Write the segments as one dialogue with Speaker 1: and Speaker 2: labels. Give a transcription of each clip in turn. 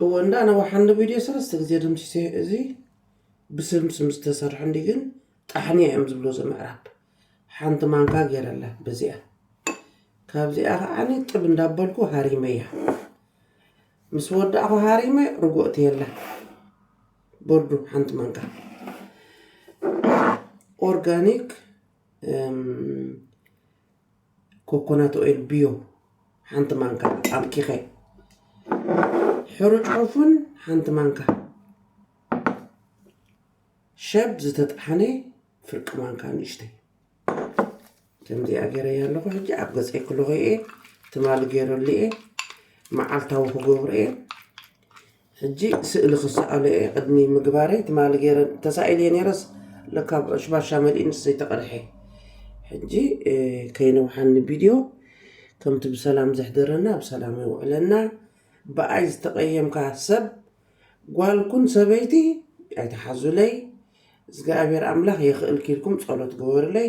Speaker 1: እወ እንዳ ኣነ ወሓንዶ ቪድዮ ሰለስተ ግዜ ደምሲሰዮ እዚ ብስም ስም ዝተሰርሑ እንዲ ግን ጣሕኒ እዮም ዝብሉ እዚ ምዕራብ ሓንቲ ማንካ ገይረላ በዚኣ ካብዚኣ ከዓኒ ጥብ እንዳበልኩ ሃሪመያ ምስ ወዳእኹ ሃሪመ ርጉእቲ የላ ቦርዱ ሓንቲ ማንካ ኦርጋኒክ ኮኮናት ኦይል ብዮ ሓንቲ ማንካ ኣምኪኸ ሕሩጭ ዑፉን ሓንቲ ማንካ ሸብ ዝተጣሓነ ፍርቂ ማንካ ንእሽተይ ከምዚኣ ገይረያ ኣለኹ ሕጂ ኣብ ገፀይ ክለኹ እየ ትማሊ ገይረሉ እየ መዓልታዊ ክገብሮ እየ ሕጂ ስእሊ ክሰኣሎ እየ ቅድሚ ምግባረይ ትማሊ ገይረ ተሳኢለየ ነይረስ ለካ ብ ሽባሻ መሊኡ ምስ ዘይተቀድሐ ሕጂ ከይነውሓኒ ቪድዮ ከምቲ ብሰላም ዘሕደረና ብሰላም የውዕለና ብኣይ ዝተቀየምካ ሰብ ጓል ኩን ሰበይቲ ኣይትሓዙለይ እዝግኣብሔር ኣምላክ የክእልኪ ኢልኩም ጸሎት ግበሩለይ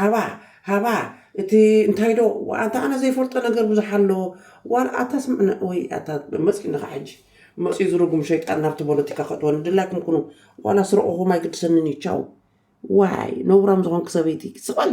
Speaker 1: ሃባ ሃባ እቲ እንታይ ዶ ኣንታ ኣነ ዘይፈልጦ ነገር ብዙሕ ኣሎ ዋላ ኣታ ስምዕነ ወይ ኣታ መጺኒ ከኣ ሕጂ መጺኡ ዝርጉም ሸይጣን ናብቲ ቦለቲካ ከእትወኒ ድላይኩም ኩኑ ዋላ ስረቁኩም ኣይግድሰንን እዩ ቻው ዋይ ነውራም ዝኮንኪ ሰበይቲ ስቀሊ።